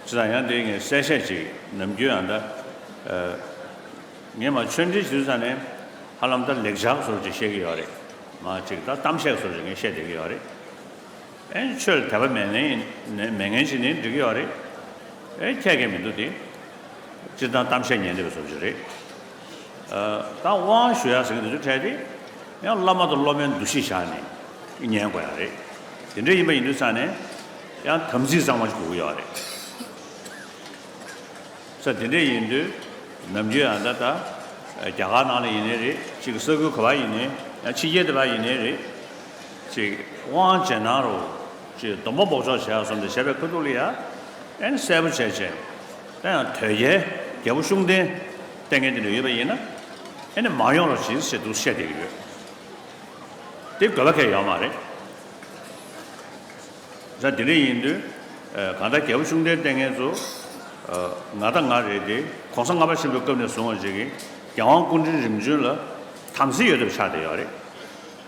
ཅི་དང་ཡང་དེ་ངས་གསལ་བཤད་ཅིག་ནམ་རྒྱུན་ཨ་མདའ། ངས་མ་ཆོས་འབྲེལ་ཞུ་ས་ནས་ཧ་ལམ་ད་ལེགས་བྱ་བཟོ་རེ་ཅིག་བཤད་ཀྱི་ཡོད་རེད། མ་གཅིག་ད་གཏམ་བཤད་བཟོ་རེ་ཅིག་ངས་བཤད་བསྡད་ཀྱི་ཡོད་རེད། ཨེ་ཁྱོད་ལ་དད་པ་མེད་ངན་ཡིན་ནའི་མེད་ངན་ཞིག་ནི་འགྲིག་གི་ཡོད་རེད། ཨེ་ཁྱད་མཁན་མི་འདུག་དེ། སྤྱིར་བཏང་གཏམ་བཤད་ཉན་བདེ་བའི་སོ་བཞི་རེད། ད་དབང་ཞུ་ཡག་ཟེར་གི་འདུག་འདི་འཕྲལ་དེ། ཡང་བླ་མ་དང་སློབ་མའི་འདུ་ཤེས་བཞག་ནས་ཉན་དགོས་ཡག་རེད། དེ་འདྲས་ཡིན་པ་ཡིན་དུས་ཚང་ནས་ཡང་དམ་ཚིག་གཙང་མ་ཞིག་དགོས་གི་ཡོད་རེད། ས་དེ་འདྲས་ཡིན་དུས་ནམ་རྒྱུན་ཡང་ད་ལྟ་རྒྱ་གར་ནང་ལ་ཡིན་ནའི་རེད་ཅིག་ས་ཁུལ་ག་བ་ཡིན་ནའི་ཡང་ཕྱི་རྒྱལ་དེ་བ་ཡིན་ནའི་རེད། ཅིག། དབང་བྱེད་ནང་རུ། ཅེས་སྡོམ་པ་འབོགས་ཆོག་བྱས་གསུམ་སྟེ་བྱས་པའི་ཁུ་ཐུག་ལ་ཡ། ཨན་གསལ་པོ་བྱས། ཅེས་ད་ཡང་དོལ་རྒྱལ་རྒྱལ་པོ་ཤུགས་ལྡན། ལྟས་ངན་དེ་འདྲ་ཡོད་པ་ཡིན་ན། ཨེ་ནས་མ་ཡོང་རོགས་གྱིས་ཞེས་འདུག་བཤད་བསྡད་ཀྱི་ཡོད། དེ་དགོས་པ་ཁས་ཡོད་མ་རེད། ད་དེ་འདྲ་ཡིན་དུས། གང་ལྟར་རྒྱལ་པོ་ཤུགས་ལྡན་ལྟས་ངན་ཚོ། ང་ལྟ་ང་རེད་དེ ྋགོང་ས་ལྔ་པ་ཆེན་པོའི་སྐབས་ནས་བཟུང་བ་ཅིག་གིས་རྒྱལ་དབང་སྐུ་དྲིན་རིམ་བྱོན་ལ། དམ་སྲི་ཡོད་ཐབས་ཆགས་བསྡད་ཡོད་རེད།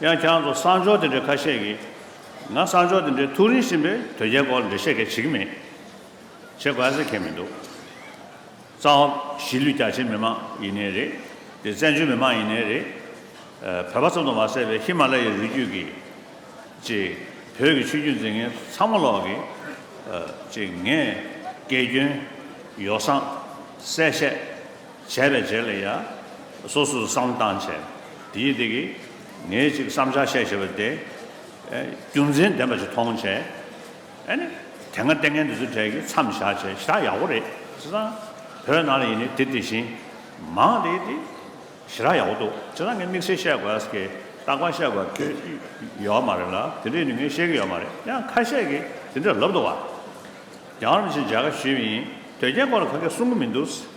ཡང་ཁྱེད་རང་ཚོ་གསང་ཕྱོགས་དེ་འདྲའི་ཁ་ཤས་ཀྱིས། ང་གསང་ཕྱོགས་དེ་འདྲའི་ཐུགས་རིང་ཞིང་པའི་དོལ་རྒྱལ་སྐོར་ལ་འགྲེལ་བཤད་གལ་ཆེ་གི་མེད། བྱེད་དགོས་ཟེར་མཁན་མི་འདུག། གཙང་བོ་གཞིས་ལུས་རྒྱ་ཆེའི་མི་མང་ཡིན་ནའི་རེད། དེ་བཙན་བྱོལ་མི་མང་ཡིན་ནའི་རེད། བོད་པ་ཙམ་དུ་མ་ཟད་པའི་ཧི་མ་ལ་ཡའི་རུས་རྒྱུད་ཀྱི། ཅེས། བོད་ཀྱི་ཆོས་བརྒྱུད་འཛིན་མཁན་ཚང་མ་ལོག་གི། ཅེས་ངས། དགེ་སྐྱོན། ཡོ་བསྲང། གསལ་བཤད། བྱས་པའི་རྗེས་ལ་ཡང། སོ་སོར་བསམ་བཏང་བྱས། དེ་ཡིས་དེ་གིས། ངས་གཅིག་བསམ་བྱ་ཤེས་བྱས་པ་དེ། རྒྱུ་མཚན་ལྡན་པ་ཞིག་མཐོང་བྱས། ཨེ་ནི། དེ་སྔ་ལྟས་ངན་འདི་ཚོ་གྲས་ཀྱིས་མཚམས་བཞག་བྱས་བཞག་ཡག་པོ་རེད། བྱས་ཙང། བོད་ནང་ལ་ཡིན་ནའི་དེ་དེ་བཞིན། མང་དེ་དེ། བྱས་རག་ཡག་པོ་འདུག་བྱས་ཙང་ངས་དམིགས་བསལ་བཤད་དགོས་ཀྱི། རྟག་པར་བཤད་དགོས་ཀྱི། ཡོད་མ་རེད་ལ། དེ་འདྲས་ནི་ངས་ཤེས་ཀྱི་ཡོད་མ་རེད་ཡང་ཁ་ཤས་ཀྱིས་དེ་འདྲས་ལབ་འདུག་བ། རྒྱ་གར་མི་ཆེན་མཇལ་ཁ་ཞུས་པ་ཡིན། དོལ་རྒྱལ་སྐོར་ལ་ཁ་སྐད་གསུང་གི་མི་འདུག།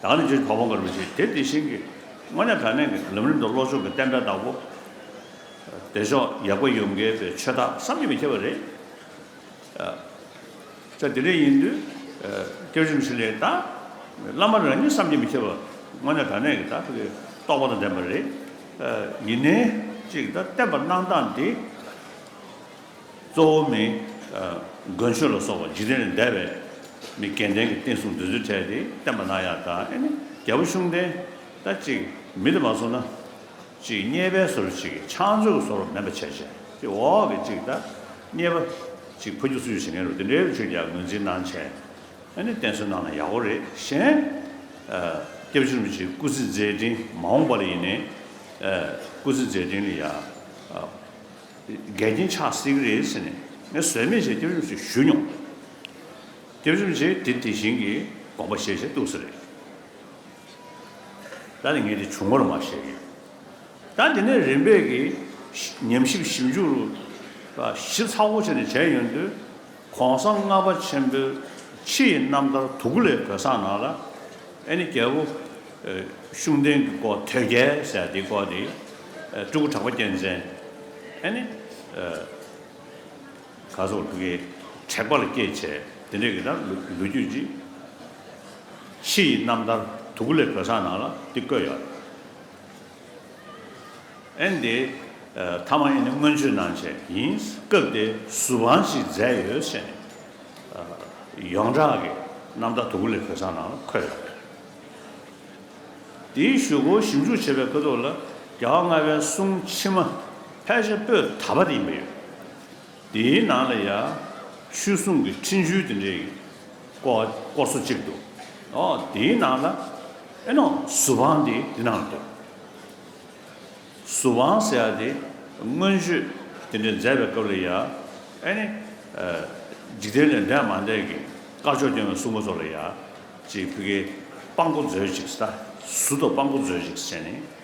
དང་ལས་བྱེད་གྲོགས་པོ་འགའ་རུ་བྱས། དེ་དེ་བཞིན་གྱི། དངོས་གནས་དྲ་གནས་ཀྱི་ལམ་རིམ་དུ་བློ་སྦྱོང་གི་བསྟན་དགྲ་བདག་པོ། བདེ་མཆོག་ཡག་པོ་ཡོང་གལ་པའི་ཆོས་དག་བསམ་གྱིས་མི་ཁྱབ་པ་རེད། ད་དེ་འདྲ་ཡིན་དུས། སྐྱབས་གཞུང་ཞིག་ལས་ད། བླ་མ་རང་ཉིད་བསམ་གྱིས་མི་ཁྱབ་པ། དངོས་གནས་དྲ་གནས་ཀྱི་ད་ཐུག་གི་རྟོགས་པ་དང་ལྡན་པ་རེད། ཡིན་ནའི། གཅིག་ད་བསྟན་པ་གནང་སྟངས་འདི། གཙོ་བོ་མི། དགོན་ཆོས་ལ་སོགས་པ་འཇིག་རྟེན་ལས་འདས་པའི། མི་སྐལ་ལྡན་གྱི་བསྟན་སྲུང་འདོད་ཚུལ་འཕྲལ་དེ་བསྟན་པ་ན་ཡང་དག་ཨེ་ནི་རྒྱལ་པོ་གཤོང་ལྡན། ད་ཅིག་མི་དེ་མ་སོང་ན། ཅིག་རྙེད་པའི་ཟོར་ཅིག་གིས་ཕྱག་མཛོད་ཀྱི་ཟོར་བ་མེད་པར་བྱས། ཅིག་འོག་གི་ཅིག་ད་རྙེད་པ། ཅིག་ཕ་རྒྱུད་སུ་ཡོད་བྱེད་མཁན་རུ་དེ་འདྲའི་རུ་ཆོས་ཀྱང་ངོས་འཛིན་གནང་བྱས། ཨེ་ནི་བསྟན་སྲུང་གནང་ན་ཡག་པོ་རེད་བཞེངས། སྐྱབས་བཅོལ་མི་ཆེན་སྐུ་ཚེ་མཛད་འཕྲིན་མ་འོངས་པ་ལ་ཡིན་ནས། སྐུ་ཚེ་མཛད་འཕྲིན་ལ་ཡ། འགལ་རྐྱེན་ཆགས་སྲིད་ཀྱི་རེད་ཟེར་ནས་ངས་ཟོལ་མེད་བཞིན་སྐྱབས་བཅོལ་ཞིག་ཞུས་མྱོང། སྐྱབས་བཅོལ་བྱས་དེ་དེ་བཞིན་གྱི་དགོངས་པ་བཞེས་བཞིན་འདུག་ཟེར། ད་ནི་ངས་དེ་བྱུང་ངོར་མ་བཤད་ཀྱི། ད་འདི་ནས་རིམ་པས་ཀྱིས་ཉམས་ཞིབ་ཞིབ་འཇུག་ཞིབ་ཚགས་པོ་བྱས་ནས་བྱས་ཡོང་དུས། ྋགོང་ས་ལྔ་པ་ཆེན་པོའི་ཕྱི་ཡི་རྣམ་ཐར་དུ་གུ་ལའི་བོད་གསང་ནང་ལ་ཨེ་ནི་རྒྱལ་པོ་གཤུང་སྟེང་གི་སྐོར་དོལ་རྒྱལ་ཟེར་དེའི་སྐོར་དེ་སྤྲུལ་སྐུ་གྲགས་པ་རྒྱལ་མཚན་ཨེ་ནི་ག་སོགས་གི་དྲེགས་པ་ལ་སྐྱེས་བྱས་དེ་འདྲས་ཀྱི་ར་ལུ་རྒྱུད་ཀྱི་ཕྱི་ཡི་རྣམ་ཐར་དུ་གུ་ལའི་བོད་གསང་ནང་ལ་འདི་བཀོད་ཡོད། ཨན་དེ། ཐ་མ་ཨིན་ནི་སྔོན་ཆོས་གནང་བྱས་ཡིན། སྐབས་དེ་ཟུར་དཔང་ཞིག་མཛད་ཡོད་བཤད་ནས། ཡོངས་གྲགས་ཀྱི་རྣམ་ཐར་དུམ་བུ་ལས་བོད་ས་ནང་ལ་འཁོད་ཡོད་པ་རེད། དེའི་ཞུ་སྒོ་ཞིབ་འཇུག་བྱེད་པའི་ཁོད་ཐོག་ལ་རྒྱལ་བ་ལྔ་པའི་གསུང་ཕྱི་མ་ཕལ་ཆེར་པོད་ད་པ་དེ་ཡིན་པ་ཡོད། དེའི་ནང་ལ་ཡང་ཆོས་སྲུང་གི་འཕྲིན་བཅོལ་དེ་འདྲའི་སྐོར་སོ་གཅིག་འདུག་དེའི་ནང་ལ་ཨེ་ནོ་གཟུ་དཔང་དེ་དེ་ནང་ལ་འདུག། གཟུ་དཔང་ཟེར་བ་དེ་མངོན་བརྗོད་དེ་འདྲའི་མཛད་པའི་སྐབས་ལ་ཡང་ཨེ་ནི་འཇིག་རྟེན་ལས་འདས་མ་འདས་ཀྱི་དཀར་ཕྱོགས་སྐྱོང་བའི་སྲུང་མ་ཚོ་ལ་ཡང་ཅིག་ཕི་ཀའི་དཔང་པོ་མཛོད་ཅིག་ས་གཟུ་དང་དཔང་པོ་མཛོད་ཅིག་ཟེར་ནས།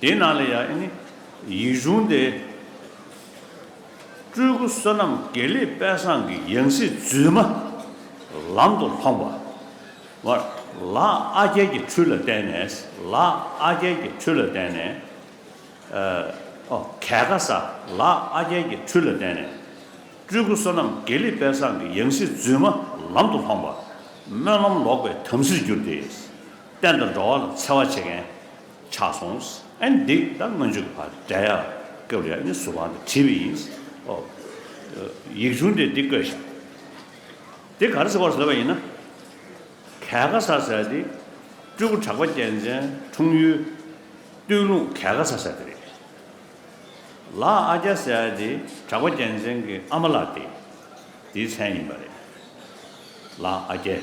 དེའི་ནང་ལ་ཡང་ནི་ཡིག་གཞུང་དེ། སྤྲུལ་སྐུ་བསོད་ནམས་དགེ་ལེགས་དཔལ་བཟང་གི་ཡང་སྲིད་བརྫུས་མ་ལམ་དུ་ལྷོངས་པ། བར་ལ་ཨ་རྒྱལ་གྱི་ཁྲུས་ལ་བརྟེན་ནས་ལ་ཨ་རྒྱལ་གྱི་ཁྲུས་ལ་བརྟེན་ནས། ཨོ། གལ་ཁ་ས་ལ་ཨ་རྒྱལ་གྱི་ཁྲུས་ལ་བརྟེན་ནས། སྤྲུལ་སྐུ་བསོད་ནམས་དགེ་ལེགས་དཔལ་བཟང་གི་ཡང་སྲིད་བརྫུས་མ་ལམ་དུ་ལྷོངས་པ། སྨོན་ལམ་ལོག་པའི་དམ་སྲིར་གྱུར་ཏེ། བསྟན་དང་འགྲོ་བ་ལ་འཚེ་བ་བྱེད་མཁན། ཆགས་སོང། ཨན་འདི་ད་སྔོན་འཇུག་པ་འདྲ་ཡ། སྐབས་རེ་ཨནི་ཟུར་བ་འདི་བྲིས་པ་ཡིན། ཨོ། ཡིག་ཆུང་འདི་འདི་བཀོད་ཤིག། འདི་ག་རེ་ཟེར་བར་བཟོས་པ་ཡིན་ན། གལ་ཁ་ས་ཟེར་འདི། སྤྲུལ་སྐུ་གྲགས་པ་རྒྱལ་མཚན་འཁྲུངས་ཡུལ། སྟོད་ལུང་གལ་ཁ་ས་ཟེར་འདི་རེད། ལ་ཨ་རྒྱ་ཟེར་འདི་གྲགས་པ་རྒྱལ་མཚན་གྱི་ཨ་མ་ལགས་འདི། འདིའི་མཚན་ཡིན་པ་རེད། ལ་ཨ་རྒྱལ།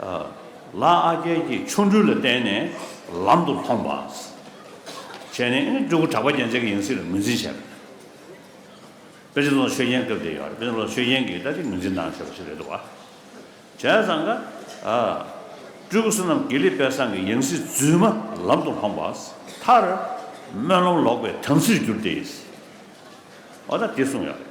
ལ་ཨ་རྒྱལ་གྱི་ཆོ་འཕྲུལ་ལ་བརྟེན་ནས་ལམ་དུ་ལྷོངས་པ། བྱས་ནས་ཨིན་སྤྲུལ་སྐུ་གྲགས་པ་རྒྱལ་མཚན་གྱི་ཡང་སྲིད་ལ་ངོས་འཛིན་བྱས་པ། པེ་ཅིན་ལོ་ཆོས་རྒྱན་སྐབས་དེ་ཡོད་པ་རེད་པེ་ཅིན་ལོ་ཆོས་རྒྱན་གྱིས་ལྟ་ཅི་ངོས་འཛིན་གནང་ཆོག་པ་ཞིག་རེད་འདུག་བ། བྱས་ཙང་ཀ། སྤྲུལ་སྐུ་བསོད་ནམས་དགེ་ལེགས་དཔལ་བཟང་གི་ཡང་སྲིད་རྫུན་མ་ལམ་དུ་ལྷོངས་པ། མཐར། སྨོན་ལམ་ལོག་པའི་དམ་སྲིར་གྱུར་ཏེ། འོ་ན་དེ་གསུངས་ཡོད་རེད།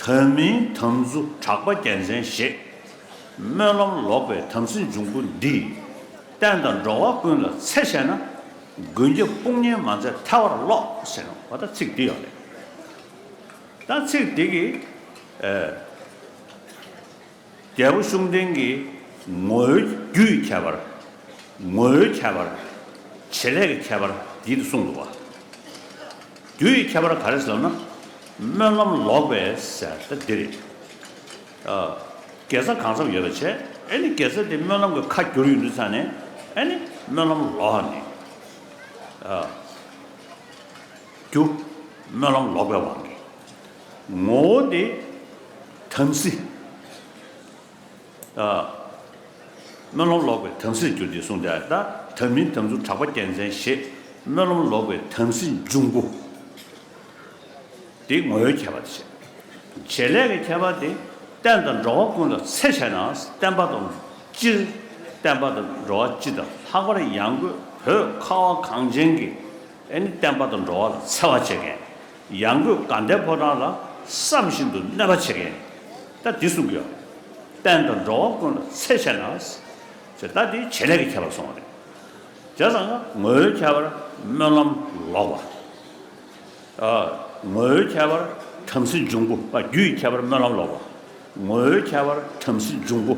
དོན་མིན་དམ་རྫུ་གྲགས་པ་རྒྱལ་མཚན་བཞེས། སྨོན་ལམ་ལོག་པའི་དམ་སྲི་འབྱུང་པོ་འདི། བསྟན་དང་འགྲོ་བ་ཀུན་ལ་འཚེ་བྱས་ན། མགོན་སྐྱབས་དཔུང་གཉེན་མ་མཛད་ཐལ་བར་རློག། ཟེར་བ་ལྟར་ཚིག་འདི་ཡང་རེད། ད་ཚིག་འདི་གིས། རྒྱལ་པོ་གཤོང་སྟེང་གི་ངོ་བོའི་རྒྱུའི་ཁྱད་པར། ངོ་བོའི་ཁྱད་པར། བྱེད་ལས་ཀྱི་ཁྱད་པར་བགྱིད་དུ་གསུངས་འདུག་བ། རྒྱུ་ཡི་ཁྱད་པར་ག་རེ་ཟེར་ན། སྨོན་ལམ་ལོག་པའི་ཟེར་ད་འདི་རེད། དགེ་རྩ་གང་འཚམས་ཡོད་པ་བྱས་ཨེ་ནི་དགེ་རྩ་དེ་སྨོན་ལམ་གྱི་ཁ་བསྒྱུར་ཡོད་འདུག་ས་ནས་ཨེ་ནི་སྨོན་ལམ་ལོག་ནི། རྒྱུ། སྨོན་ལམ་ལོག་པའི་དབང་གིས། ངོ་བོ་དེ་དམ་སྲི། སྨོན་ལམ་ལོག་པའི་དམ་སྲིར་འགྱུར་ཏེ་གསུངས་ཏེ། ད་དམ་མིན་དམ་ཚུགས་གྲགས་པ་རྒྱལ་མཚན་བཞེས། སྨོན་ལམ་ལོག་པའི་དམ་སྲི་འབྱུང་པོ། དེའི་ངོ་བོའི་ཁྱད་པར་བྱེད། བྱེད་ལས་ཀྱི་ཁྱད་པར་དེ་བསྟན་དང་འགྲོ་བ་ཀུན་ལ་འཚེ་བྱས་ན་བསྟན་པ་དང་སྤྱིར་བསྟན་པ་དང་འགྲོ་བ་སྤྱི་དང་ལྷག་པར་ཡང་སྒོས་བོད་ཁ་བ་གངས་ཅན་གྱི་བསྟན་པ་དང་འགྲོ་བ་ལ་འཚེ་བ་བྱེད་མཁན་ཡང་སྒོས་དགའ་ལྡན་ཕོ་བྲང་ལ་བསམ་བཞིན་དུ་གནོད་པ་བྱེད་མཁན་དག་འདི་གསུམ་གྱིས་བན་དང་འགྲོ་བ་ཀུན་ལ་འཚེ་བྱས་ན་དེ་དག་འདིའི་བྱེད་ལས་ཀྱི་ཁྱད་པར་སོང་བ་རེད། དེ་ཙམ་ངོའི་ཁྱད་པར་སྨོན་ལམ་ལོག་པ། ངོའི་ཁྱད་པར་བྲམ་ཟེ་འབྱུང་པོ་པ་རྒྱུ་ཡི་ཁྱད་པར་སྨོན་ལམ་ལོག་པ། ངོའི་ཁྱད་པར་བྲམ་ཟེ་འབྱུང་པོ།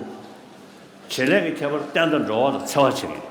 བྱེད་ལས་ཀྱི་ཁྱད་པར་བན་དང་འགྲོ་བ་ལ་འཚེ་བ་བྱེད་མཁན།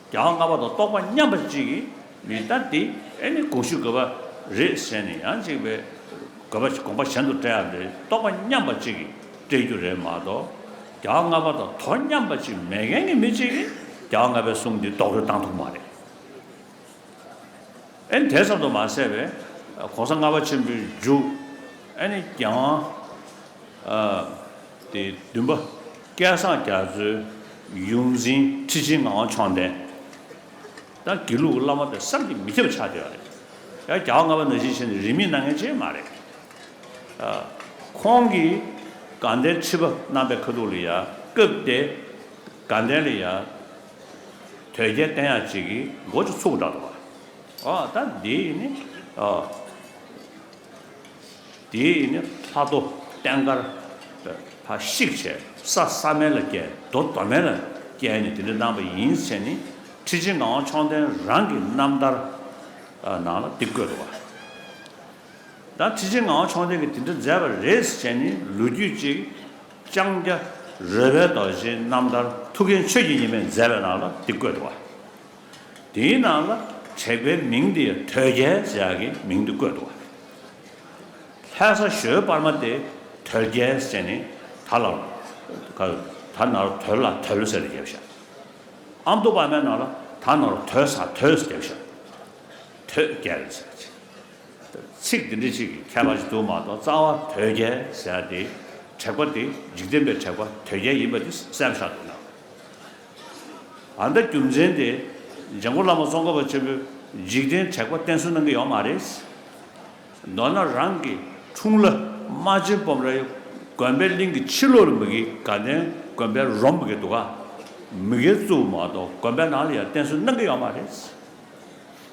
རྒྱལ་བ་ལྔ་པ་དང་རྟོགས་པ་མཉམ་པ་གཅིག་གིས་མི་ལྟ་སྟེ། ཨེ་ནི་དགོངས་ཞུ་དགོས་པ་རེད་ཟེར་ནས་ཡང་གཅིག་པའི་དགོས་པ་དགོངས་པ་གཞན་དུ་སྤྲད་ཡག་རེད་རྟོགས་པ་མཉམ་པ་གཅིག་གིས་སྤྲད་རྒྱུ་རེད་མ་གཏོགས། རྒྱལ་བ་ལྔ་པ་དང་དོ་མཉམ་པ་གཅིག་མེད་མཁན་གྱི་མི་གཅིག་གིས་རྒྱལ་བ་ལྔ་པའི་གསུང་འདི་རྡོག་རོལ་བཏང་ཐུབ་མ་རེད། ཨེ་དེ་ཙམ་དུ་མ་ཟད་པས་གོང་ས་ལྔ་པ་ཆེན་པོའི་མཇུག་ཨེ་ནི་རྒྱང། དེ་བདུན་པ་སྐལ་བཟང་རྒྱ་མཚོའི་ཡོངས་འཛིན་ཁྲི་ཆེན་ངག་དབང་མཆོག་ལྡན། དང་དགེ་ལུགས་ཀྱི་བླ་མ་དེ་བསམ་གྱིས་མི་ཁྱབ་ཆགས་བསྡད་པ་རེད། ཡང་རྒྱ་བ་ལྔ་པ་ནང་བཞིན་བྱས་ནས་རིན་མེད་གནང་མཁན་ཅན་མ་རེད། ཁོང་གིས་དགའ་ལྡན་ཁྲི་པ་རྣམ་པའི་ཁ་ཐུག་ལ་ཡང་སྐབས་དེ་དགའ་ལྡན་ལ་ཡང། དོལ་རྒྱལ་བསྟན་ཡག་ཅིག་གིས་མགོ་ཅིག་ཚུགས་འདྲ་འདུག་ཨ། ད་འདིའི་ནི་ཨ། འདིའི་ནི་ལྷ་རྡོ་བསྟན་དཀར། ཕ་ཤིག་བྱས་ས་ས་མེ་ལ་སྐྱལ་རྡོ་རྡོ་མེ་ལ་སྐྱལ་ནི་དེ་འདྲ་གནང་བ་ཡིན་ཚེ་ནི་ཁྲི་ཆེན་ངག་དབང་མཆོག་ལྡན་རང་གི་རྣམ་ཐར་ནང་ལ་འདི་བཀོད་འདུག་ཨ། ད་ཁྲི་ཆེན་ངག་དབང་མཆོག་ལྡན་གྱིས་དེ་འདྲ་མཛད་པ་རེད་ཟེར་ནི་ལོ་རྒྱུས་ཅིག་ལྕང་སྐྱ་རོལ་པའི་རྡོ་རྗེའི་རྣམ་ཐར་ཐུགས་མཁྱེན་ཆོས་ཀྱི་ཉི་མས་མཛད་པའི་ནང་ལ་འདི་བཀོད་འདུག་བ། དེའི་ནང་ལ་དྲེགས་པའི་མིང་འདི་དོལ་རྒྱལ་ལྕགས་ཀྱི་མིང་དུ་བཀོད་འདུག་བ། ལྷའི་ས་གཞོལ་སྤར་མ་སྟེ་དོལ་རྒྱལ་ཅན་ནི་ད་ལ་ད་ན་རོ་དོལ་ལ་དོལ་ཟེར་རྒྱལ་བ་ཞབས་ཨམ་དུ་སྤར་མའི་ནང་ལ་ད་ན་རོ་དོལ་ས་དོལ་ཟེར་རྒྱལ་བ་ཞབས་དོལ་རྒྱལ་ལྕགས་ཀྱི། ཚིག་འདི་འདྲི་གཅིག་གི་ཁྱད་པར་གཅིག་ཏུ་མ་གཏོགས་རྩ་བ་དོལ་རྒྱལ་ཟེར་ཏེ། དྲེགས་པ་དེ་འཇིག་རྟེན་པའི་དྲེགས་པ་དོལ་རྒྱལ་ཡིན་པ་དེ་གསལ་བཞག་ཏུ་སྣང། ཨ་མདའ་རྒྱུ་མཚན་དེ་འཇམ་མགོན་བླ་མ་ཙོང་ཁ་པ་ཆེན་པོས་འཇིག་རྟེན་དྲེགས་པ་བསྟན་གསོལ་གནང་གི་ཡོད་མ་རེད། མདོར་ན་རང་གི་འཁྲུངས་བླ་རྨ་ཆེན་སྤོམ་རའི་དགོན་པའི་གླིང་གི་ཕྱི་ལོགས་ལ་མི་དགེའི་དགའ་ལྡན་དགོན་པའི་རོམ་མི་དགེ་འདུག་ག། མི་དགེ་གཙོ་བོ་མ་གཏོགས་དགོན་པའི་ནང་ལ་ཡང་བསྟན་གསོལ་གནང་གི་ཡོད་མ་རེད།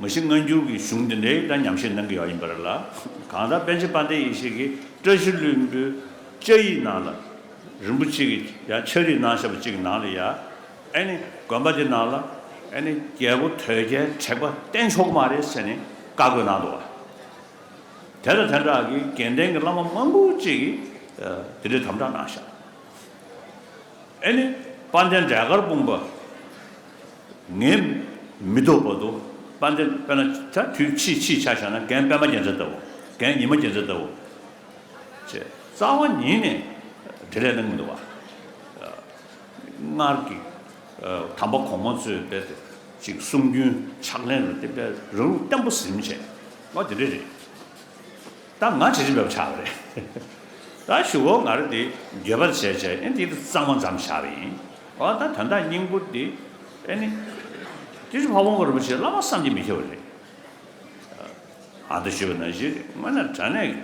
མི་ཤིགས་སྔ་འགྱུར་གྱི་གཞུང་འདི་འདྲའི་སྐྲ་ཉམས་ཤིག་གནང་གི་ཡག་ཡིན་པ་རེད་ལ། གང་ལྟར་པཎ་ཆེན་དཔལ་ལྡན་ཡེ་ཤེས་ཀྱིས་བཀྲ་ཤིས་ལུས་འབུལ་བཅའ་ཡིག་ནང་ལ། རིན་པོ་ཆེ་གིས་ཀྱང་ཕྱག་རིས་གནང་བཞག་པ་གཅིག་གི་ནང་ལ་ཡ། ཨེ་ནི་དགོན་པ་འདི་ནང་ལ། ཨེ་ནི་རྒྱལ་པོ་དོལ་རྒྱལ་དྲེགས་པ་བསྟེན་ཆོག་གི་མ་རེད་ཟེར་ནས་བཀའ་བསྒོས་གནང་འདུག་བ། དེ་ལ་དེ་འདྲ་གི་དགེ་ལྡན་གྱི་བླ་མ་མང་པོ་གཅིག་གིས་དེ་འདྲའི་དམ་བསྒྲགས་གནང་བཞག། ཨེ་ནི་དཔལ་ལྡན་འབྲས་དཀར་སྤུངས་པ། ངས་མི་ལྡོག་པར་དུ་པ་འདི་པད་མ་ཆ་དུས་ཕྱིས་ཕྱིས་ཆ་བཞག་ན་གན་པད་མ་རྒྱལ་མཚན་ལྟ་བུ་གན་ཉི་མ་རྒྱལ་མཚན་ལྟ་བུ། ཅེས་རྩ་བ་ཉིད་ནས་དེ་ལས་གླེང་མི་འདོད་པ། སྔར་གྱི་དམ་པ་གོང་མ་ཚོས་སྤེལ་ཏེ་ཅིག་གསུང་རྒྱུན་ཕྱག་ལེན་རུ་དེ་སྤེལ་རང་ལུགས་བརྟན་པོ་གཟིམ་བྱས་པ་དེ་འདྲ་རེད། ད་ང་དྲི་རིན་འབབ་ཆགས་པ་རེད། ད་ཞུ་བོ་ང་རོ་འདི་འགྱོད་པར་བྱས་བྱས་ཨེ་འདི་ད་གཙང་མ་འཛམ་ཆགས་པ་ཡིན། འོ་ད་དོན་དག་སྙིང་པོ་འདི་ཨེ་ནི། ཏི་ཤྲཱི་བྷ་བོང་ག་རིན་པོ་ཆེ་བླ་མ་བསམ་གྱིས་མི་ཁྱབ་པ་རེད། ཨ་ད་ཞུ་བོ་ན་གཞི་རེད་དངོས་ན་དྲ་གནས་ཀྱི་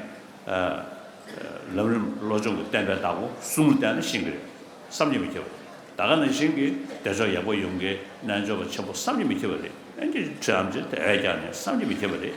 ལམ་རིམ་བློ་སྦྱོང་གི་བསྟན་པའི་བདག་པོ་གསུམ་ལ་བལྟས་ན་ཤིང་གི་རེད་བསམ་གྱིས་མི་ཁྱབ་པ་རེད། ད་ག་ན་ཤིང་གི་བདེ་མཆོག་ཡག་པོ་ཡོང་གི་རྣལ་འབྱོར་པ་ཆེན་པོ་བསམ་གྱིས་མི་ཁྱབ་པ་རེད་ཨེ་འདི་ཤྲཱི་ཨམ་ཅི་ད་ཨེ་རྒྱག་ནས་བསམ་གྱིས་མི་ཁྱབ་པ་རེད།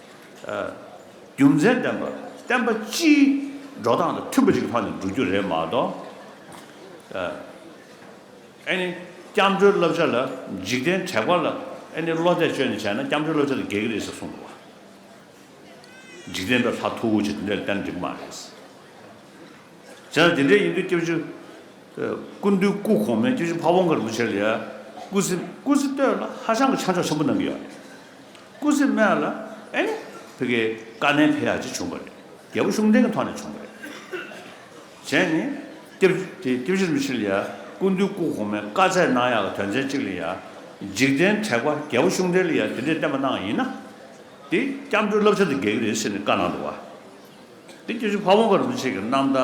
རྒྱུ་མཚན་བསྟན་པ། བསྟན་པ་སྤྱིའི་འགྲོ་སྟངས་དང་མཐུན་པ་ཞིག་ལྷག་ནས་འགྲོ་རྒྱུ་རེད་མ་གཏོགས། ཨེ་ནི། སྐྱབས་འགྲོའི་བསླབ་བྱ་ལ་འཇིག་རྟེན་དྲེགས་པ་ལ་ཨེ་ནི་བློ་གཏད་བཅོལ་ནས་བྱས་ན་སྐྱབས་འགྲོའི་བསླབ་བྱ་ལ་འགལ་གྱི་རེད་ཟེར་གསུངས་འདུག་བ། འཇིག་རྟེན་པའི་ལྷ་ཐུ་བོ་ཆེ་དེ་འདྲས་ལ་བསྟན་འགྲིག་མ་རེད། བྱས་ན་དེ་འདྲས་ཡིན་དུས་སྐྱབས་བཅོལ། སྐུ་མདུན་སྐུ་གོང་མའི་སྐྱབས་བཅོལ་ཕ་བོང་ཁར་འདུག་བྱས་ལ་ཡ། སྐུ་ཚེ་སྐུ་ཚེ་སྟོད་ལ་ཧ་ཅང་གི་ཆ་འཇོག་ཆེན་པོ་གནང་གི་ཡོད་རེད། སྐུ་ཚེ་སྨད་ལ་ཨེ་ནི་བྷི་གའི་བཀའ་ནན་བྷེ་ཡག་ཅིག་བྱུང་བ་རེད། རྒྱལ་པོ་ཤུགས་ལྡན་གྱི་ཐོག་ནས་བྱུང་བ་རེད། གཞན་ནི། ཏེབ་དེ་ཏེབ་ཤིར་མི་ཤིར་ལ་ཡ་སྐུ་འདུས་སྐུ་གོང་མའི་བཀའ་ཚད་གནང་ཡག་གི་དོན་ཚན་གཅིག་ལ་ཡ། འཇིག་རྟེན་དྲེགས་པ་རྒྱལ་པོ་ཤུགས་ལྡན་ལ་ཡ་དེ་འདྲས་བསྟན་པ་གནང་ཡིན་ན། དེ་སྐྱབས་འགྲོའི་བསླབ་བྱ་དུ་འགེལ་གྱི་རེད་ཟེར་ནས་བཀའ་གནང་འདུག་བ། དེ་སྐྱབས་ཤིག་ཕ་བོང་ཁ་རུ་མི་ཆེ་གི་གནམ་བདག།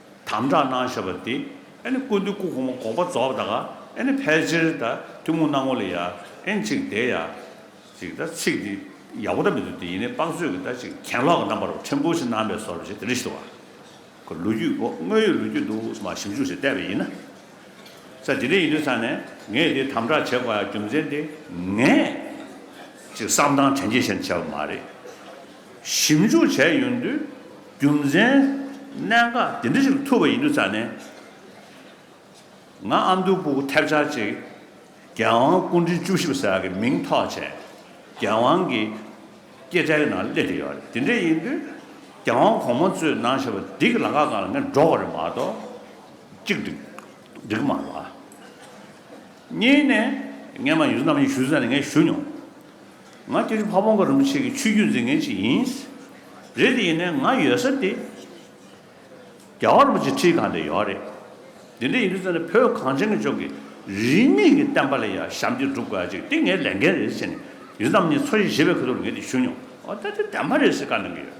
དམ་བསྒྲགས་གནང་བཞག་པ་དེ་ཨེ་ནི་ཀུན་ཏུ་ཀུ་ཁོ་མོ་གོག་པ་རྫོགས་ད་ག་ཨེ་ནི་ཕལ་ཆེར་ད་ཐུན་མོང་སྣང་ངོ་ལ་ཡ་ཨེ་ནི་ཅིག་དེ་ཡ་ཅིག་ད་ཚིག་དེ་ཡག་པོ་ད་མི་འདུག་དེ་ཡིན་ནའི་དཔག་ཚོད་ཀྱི་ད་ཅིག་གྱེན་ལོག་གི་རྣམ་པར་ཕྲན་བུ་ཞིག་སྣང་བས་སོར་བཞི་དེ་རི་ཞེས་བ་ལོ་རྒྱུས་སྒོ་དངོས་ཡོད་ལོ་རྒྱུས་འདུག་ས་མ་ཞིབ་འཇུག་བྱས་བལྟས་པ་ཡིན་ན་ས་དེ་འདྲ་ཡིན་དུས་ས་ནས་ངས་དེ་དམ་བསྒྲགས་བྱེད་དགོས་ཡ་རྒྱུ་མཚན་དེ་ངས་ཅིག་བསམ་སྟངས་དྲན་རྒྱས་ཞེན་དུ་བྱས་པ་མ་རེད་ཞིབ་འཇུག་བྱས་ཡོང་དུས། རྒྱུ་མཚན། གནད་འགག་དེ་འདྲ་ཞིག་ཐུག་པ་ཡིན་དུས་ཚར་ནས། ང་ཨ་མདོའི་སྤུ་གུ་ཐེབས་ཆག་ཅིག་རྒྱལ་དབང་སྐུ་ཕྲེང་བཅུ་བཞི་པ་ཟེར་བ་གི་མིང་ཐོག་བྱས། རྒྱལ་དབང་གི་སྐྱེད་ཚལ་གི་ནང་སླེབས་ཀྱི་ཡོད་རེད། དེ་འདྲ་ཡིན་དུས་རྒྱལ་དབང་གོང་མ་གཙོས་ནང་ཞབས་བདེ་གི་ལ་ཁ་གང་ལ་ངས་འགྲོ་དགོས་རེད་མ་གཏོགས་ཅིག་འགྲིག་གི་མ་རེད་བ། གཉིས་ནས་ངས་མ་ཡུལ་ཚོ་རྣམ་གཡེང་ཞུ་ས་ནས་ངས་ཞུ་མྱོང། ང་སྐྱིད་ཆུ་ཕ་བོང་ཁ་རིན་པོ་ཆེ་གི་ཆོས་བརྒྱུད་འཛིན་མཁན་ཞིག་ཡིན། རེད་དེ་ཡིན་ནའི་ང་ཡོད་ས་དེ་རྒྱལ་བ་རིན་པོ་ཆེ་ཁྲིའི་གང་དེ་ཡོད་རེད། དེ་འདྲ་ཡིན་དུས་ཚོད་ནས་བོད་གངས་ཅན་གྱི་ཕྱོགས་ཀྱི་རིས་མེད་ཀྱི་བསྟན་པ་ལ་ཡ་ཞམ་གྱིས་བསྒྲུབ་དགོས་ཡ་ཅིག་དེ་ངའི་ལས་འགན་རེད་ཟེར་ནས་ཡུལ་ཙམ་གཉིས་ཚོ་ཞེས་བཞེས་པའི་གོ་ཐོབ་ལ་ངས་དེ་ཞུ་མྱོང། འོ་ད་དེ་བདེན་པ་རེད་ཟེར་དཀའ་གནང་གི་ཡོད།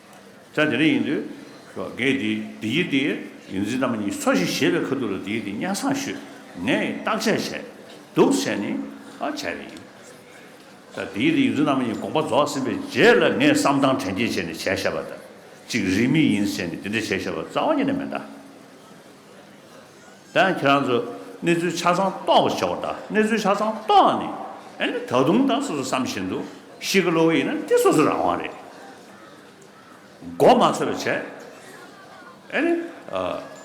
ལྕགས་དེ་རིང་ཡིན་དུས། ཤོག་གེ་དེ་དེ་ཡི་དེ། ཡིན་ཟིན་རྣམས་གཉིས་ཚོ་ཞིག་བྱེད་པའི་ཁ་ཐུག་ལ་དེ་ཡི་དེ་གཉའ་སང་ཤོད། ངས་བརྟག་དཔྱད་བྱས། དུག་བྱས་ནི། ཨ་བྱས་པ་ཡིན། ལྕགས་དེ་ཡི་དེ་ཡིན་ཟིན་རྣམས་གཉིས་དགོངས་པ་རྫོགས་ཟིན་པའི་རྗེས་ལ་ངས་བསམ་སྟངས་དྲན་སྐྱེས་བྱས་ནས་བྱས་ཤ་བ་དང་གཅིག་རིགས་མི་ཡིན་ཟེར་ནས་དེ་འདྲ་བྱས་ཤ་བ་རྩ་བ་ཉིད་ནས་མི་འདའ། དེ་ཡང་ཁྱེད་རང་ཚོས་གནས་ཚུལ་ཆ་ཚང་རྟོགས་པར་བྱའོ། ད་གནས་ཚུལ་ཆ་ཚང་རྟོགས་ནས་ཨེ་ན་ད་དུང་ད་སོ་སོ་བསམ་བཞིན་དུ་ཤི་གི་ལོག་གི་ཡིན་ན་དེ་སོ་སོའི་རང་དབང་རེད། མགོ་མ་ཚོས་པ་བྱས། ཨེ་ན།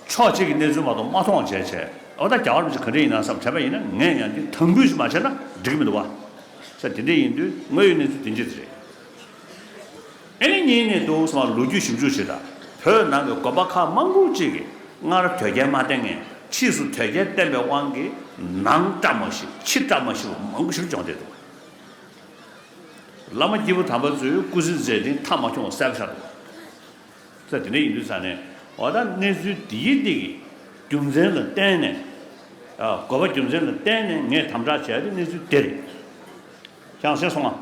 ཕྱོགས་གཅིག་གི་གནས་ཚུལ་མ་གཏོགས་མ་མཐོང་བ་བྱས་བྱས། འོ་ད་རྒྱ་གར་མི་ཚོས་ག་འདྲས་ཡིན་ན་བསམ་བྱས་པ་ཡིན་ན་ངས་ཡང་འདི་དམ་འབུལ་ཞིག་མ་བྱས་ན་འགྲིག་གི་མི་འདུག་བ། ས་དེ་འདྲས་ཡིན་དུས་དངོས་ཡོད་གནས་ཚུལ་དེ་འདྲས་རེད། ཨེ་ལི་ཉིན་ནས་བཟུང་སོ་མ་ལོ་རྒྱུས་ཞིབ་འཇུག་བྱེད་དང་བོད་ནང་གི་དགོན་པ་ཁག་དམངས་ཁུལ་གཅིག་གིས་སྔར་དོལ་རྒྱལ་མ་བསྟེན་ངན་ཕྱིས་སུ་དོལ་རྒྱལ་བསྟེན་པའི་དབང་གིས་ནང་བཀྲ་མ་ཤིས་ཕྱི་བཀྲ་མ་ཤིས་པ་མང་པོ་ཞིག་སྦྱོང་བསྡད་འདུག་བླ་མ་སྐྱེས་བུ་དམ་པ་ཚོས་སྐུ་ཟིན་མཛད་ཅིང་མཐའ་མ་འཁྱོངས་བ་གསལ་པོ་ཆགས་འདུག་ཚེ་དེ་འདྲ་ཡིན་དུས་ས་ནས་འོ་ད་གནས་ཚུལ་འདི་ཡི་སྟེང་གི་རྒྱུ་མཚན་ལ་བརྟེན་ནས་དགོས་པ་རྒྱུ་མཚན་ལ་བརྟེན་ནས་ངས་དམ་དྲག་བྱས་ཏེ་གནས་ཚུལ་དེར་ཀྱང་ཟེར་སོང་ང།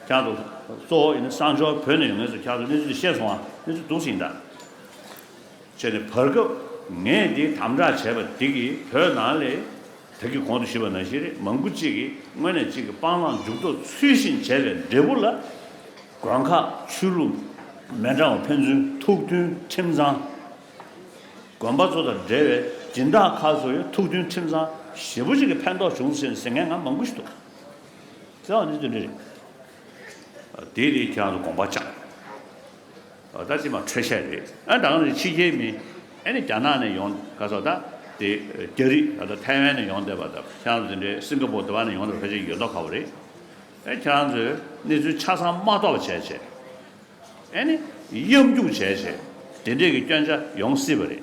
ཁྱག་ཏུ། གཙོ་བོ་ཡིན་ན་གསང་མཆོག་བོད་ནས་ཡོང་ངེས་སོ་ཁྱག་ཏུ་གནས་ཚུལ་དེ་ཤེས་སོང་ང་གནས་ཚུལ་སྡུག་ཅིང་འདྲ། བྱས་ནས་བར་སྐབས་ངས་འདི་དམ་དྲག་བྱས་པ་འདི་གིས་བོད་ནང་ལས། ད་གི་གོང་དུ་ཞུས་པ་ནང་བཞིན་རེད་མང་པོ་གཅིག་གིས་དངོས་ནས་གཅིག་གི་སྤང་བླང་འཇུག་ལྡོག་ཚུལ་བཞིན་བྱས་པའི་འབྲས་བུ་ལ། དགོན་ཁག་ཆོས་ལུགས། མེ་འབྲང་བ་ཕན་ཚུན་ཐུགས་མཐུན་ཁྲིམས་གཙང། དགོན་པ་ཚོ་དང་འབྲེལ་བའི་སྦྱིན་བདག་ཁག་ཚོ་ཡང་ཐུགས་མཐུན་ཁྲིམས་གཙང་ཞེ་པོ་གཅིག་གི་ཕན་ཐོགས་བྱུང་ཟིན་ཟེར་མཁན་ང་མང་པོ་ཞིག་འདུག། ཚེ་དབང་ནི་དོན་འདི་རེད། དེ་ནི་ཁྱེད་རང་ཚོ་དགོངས་པ་བཅངས། ད་ཅི་མ་འཕྲོད་བཤད་རེད། ཨ་ད་ནི་ཕྱི་རྒྱལ་མི། ཨ་ནི་རྒྱ་ནག་ནས་ཡོང། ག་ཚོད་ད། དེ་རྒྱ་རིགས་ད་ལྟ་ཐའི་ཝན་ནས་ཡོང་བསྡད་པ་ད། ཁྱེད་རང་ཚོ་དེ་འདྲའི་སིང་ག་པོ་དེ་བ་ནས་ཡོང་བསྡད་པ་ཧྲ་ཅིག་ཡོད་མདོག་ཁ་བོ་རེད། ཨ་ཁྱེད་རང་ཚོས་གནས་ཚུལ་ཆ་ཚང་མ་རྟོགས་བྱས་བྱས། ཨ་ནི་གཡམ་རྒྱུག་བྱས་བྱས། དེ་འདྲས་ཀྱི་སྐྱོན་ཆ་ཡོང་སྲིད་པ་རེད།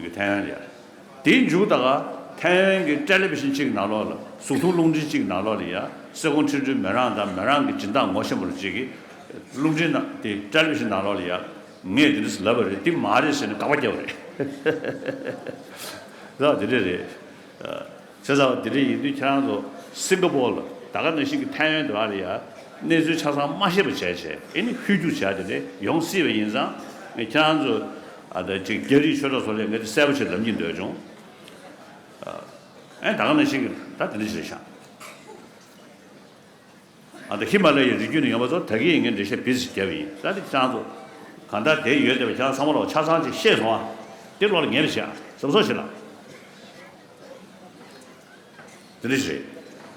གི་ཐའེ་ཡན་རེད། དེའི་མཇུག་ད་ག་ཐའེ་ཡན་གྱི་སྤྲེལ་ལེབ་བཞིན་གཅིག་ནག་ལོག་ལ་ཟུག་ཐུང་རླུང་འཕྲིན་གཅིག་ནག་ལོག་ལ་ཡ་སེ་གོང་ཁྲི་འགྲུལ་མེད་རང་དང་མེད་རང་གི་སྦྱིན་བདག་ངོ་ཤེས་མོ་རུ་གཅིག་གིས་རླུང་འཕྲིན་ནག་དེ་སྤྲེལ་ལེབ་བཞིན་ནག་ལོག་ལ་ཡ། ངས་དེ་འདྲས་ལབ་པ་རེད་དེ་མ་རེད་ཟེར་ནས་དགག་པ་རྒྱབ་པ་རེད། ལགས་དེ་འདྲས་རེད། ཟེར་ཚར་བ་འདི་འདྲ་ཡིན་དུས་ཁྱེད་རང་ཚོ་སིང་ག་པོར་ལ་ད་ག་ནང་བཞིན་གྱི་ཐའེ་ཝན་དུ་ཨ་རི་ཡ་གནས་ཚུལ་ཆ་ཚང་མ་ཤེས་པ་བྱས་བྱས་ཨེ་ནི་ཧུད་རྒྱུགས་བྱས་དེ་འདྲས་ཡོང་སྲིད་པ་ཡིན་ཙང་ངས་ཁྱེད་རང་ཚོ་ཨ་ད་ཅིག་རྒྱ་རིགས་ཆོས་གྲོགས་ཚོ་ལས་ངས་འདི་གསལ་པོ་ཆེ་ལབ་ཀྱིན་འདོད་བྱུང་ཨ་ད་ག་ནང་བཞིན་གྱི་ད་འདི་འདྲ་བྱས་ཤག། ཨ་ཧི་མ་ལ་ཡའི་རི་རྒྱུད་ནས་ཡོང་བ་ཚོར་ད་གིན་ཡིན་ངའི་འགྲེལ་བཤད་བེད་ཟིག་བརྒྱབ་ཡིན་ས་དེ་སྤྱང་ཚོ། གང་ལྟར་དེའི་ཡོད་བདེ་བ་ཅང་ཚང་མ་ལོག་ཆ་ཚང་ཅིག་ཤེས་སོང་ཨ། དེ་བློ་ལ་ངེས་པ་ཞིག་ཨ། ཟབ་སོ་ཞིག་ལ། དེ་འདྲ་ཞིག་རེད།